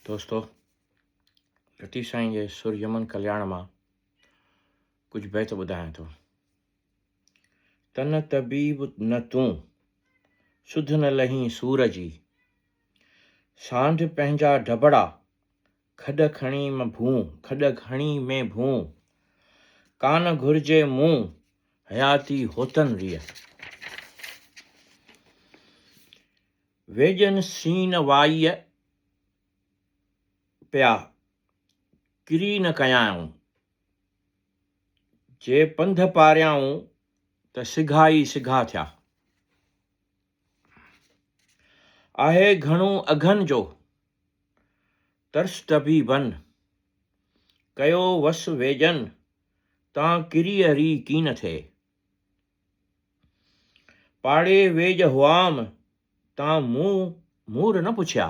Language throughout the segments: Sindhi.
دوستو لطيف سائين جي سر يمن ڪلياڻ مان ڪجهه بيت ٻڌايان ٿو تن طبيب نه تون سڌ نه لهين سور جي سانڍ پنهنجا ڊبڙا کڏ کڻي م ڀون کڏ کڻي ۾ ڀون ڪان گهرجي مون حياتي هوتن ريء ويڄن سين وائيء پيا، ڪري نه ڪيائون. جي پنڌ پاريائون ته سگها ئي سگها ٿيا. آهي گهڻو اگهن جو، ترس طبيبن. ڪيو وس ويڄن، تان ڪريء ري ڪين ٿئي. پاڙي ويڄ هئام تان مون مور نه پڇيا.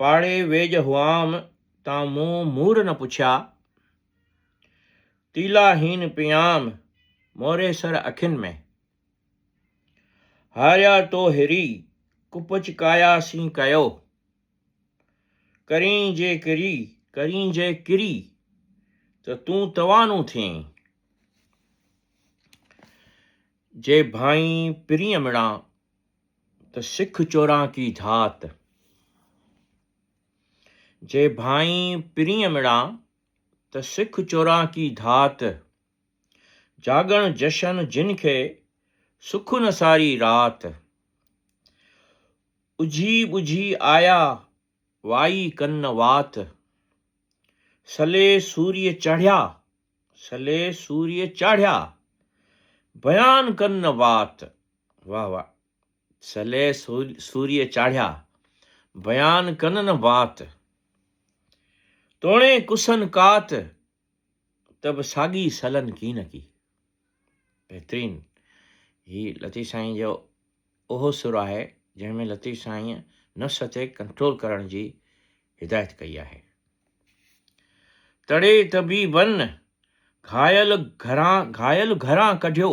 پاڙي ويڄ هئام تان مون مور نه پڇيا. تيلا هين پيام موري سر اکين ۾. هاريا تو هري ڪپچ ڪايا سين ڪيو. ڪرين جي ڪري، ڪرين جي ڪري، ته تون توانو ٿئين. جي ڀانئين پرينء مڙان، ته سک چوراڪي ڌات. جي ڀانئين پرينء مڙان، ته سک چوراڪي ڌات. جاڳڻ جشن جن کي، سک نه ساري رات. اجهي ٻجهي آيا وائي ڪن وات، سلي سوريء چاڙهيا، سلي سوريء چاڙهيا، بيان ڪن وات، واهه واهه، سلي سوريء چاڙهيا، بيان ڪن نه وات، توڻي ڪسن ڪات، ته به ساڳي سلن ڪي نه ڪي. بهترين هي لطيف سائين جو اهو سر آهي جنهن ۾ لطيف سائين نفس تي ڪنٽرول ڪرڻ جي هدايت ڪئي آهي. تڙي طبيبن گهايل گهران گهايل گهران ڪڍيو